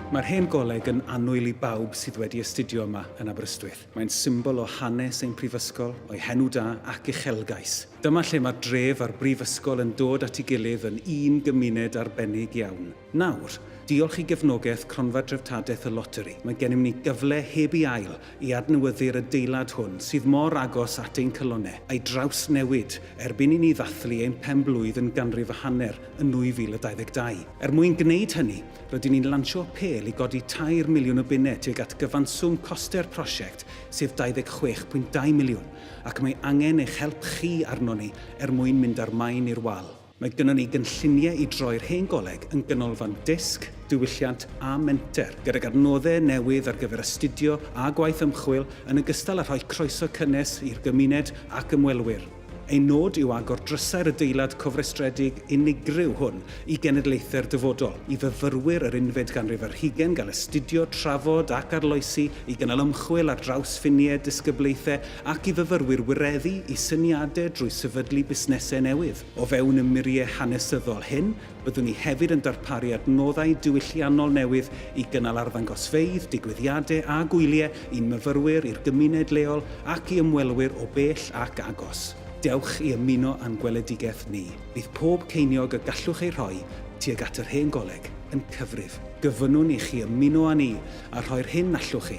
Mae'r Hen Goleg yn annwyl i bawb sydd wedi astudio yma yn Aberystwyth. Mae'n symbol o hanes ein prifysgol, o'i henw da ac uchelgais. Dyma lle mae'r dref a'r brifysgol yn dod at ei gilydd yn un gymuned arbennig iawn. Nawr, diolch i gefnogaeth Cronfa Dreftadaeth y Loteri, mae gennym ni gyfle heb ei ail i adnewyddu'r adeilad hwn sydd mor agos at ein calonnau, a'i drawsnewid erbyn i ni ddathlu ein pen-blwydd yn ganrif a hanner yn 2022. Er mwyn gwneud hynny, rydyn ni'n lansio apêl i godi tair miliwn o bunnau tuag at gyfanswm costau'r prosiect sef 26.2 miliwn ac mae angen eich help chi arnon ni er mwyn mynd â'r maen i'r wal. Mae gynnon ni gynlluniau i droi'r Hen Goleg yn ganolfan dysg, diwylliant a menter, gydag adnoddau newydd ar gyfer astudio a gwaith ymchwil, yn ogystal â rhoi croeso cynnes i'r gymuned ac ymwelwyr. Ein nod yw agor drysau'r adeilad cofrestredig unigryw hwn i genedlaethau'r dyfodol, i fyfyrwyr yr unfed ganrif ar hugain gael astudio, trafod ac arloesi, i gynnal ymchwil ar draws ffiniau disgyblaethau, ac i fyfyrwyr wireddu i syniadau drwy sefydlu busnesau newydd. O fewn y muriau hanesyddol hyn, byddwn ni hefyd yn darparu adnoddau diwylliannol newydd i gynnal arddangosfeydd, digwyddiadau a gwyliau i'n myfyrwyr, i'r gymuned leol ac i ymwelwyr o bell ac agos. Dewch i ymuno â'n gweledigaeth ni. Bydd pob ceiniog y gallwch ei rhoi tuag at yr Hen Goleg yn cyfrif. Gofynnwn i chi ymuno â ni a rhoi'r hyn allwch chi.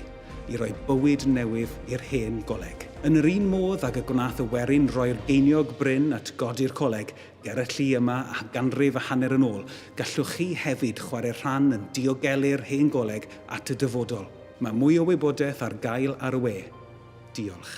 i roi bywyd newydd i'r hen goleg. Yn yr un modd ag y gwnaeth y werin roi'r geiniog brin at godi'r coleg ger y lli yma a ganrif a hanner yn ôl, gallwch chi hefyd chwarae rhan yn diogelu'r hen goleg at y dyfodol. Mae mwy o wybodaeth ar gael ar y we. Diolch.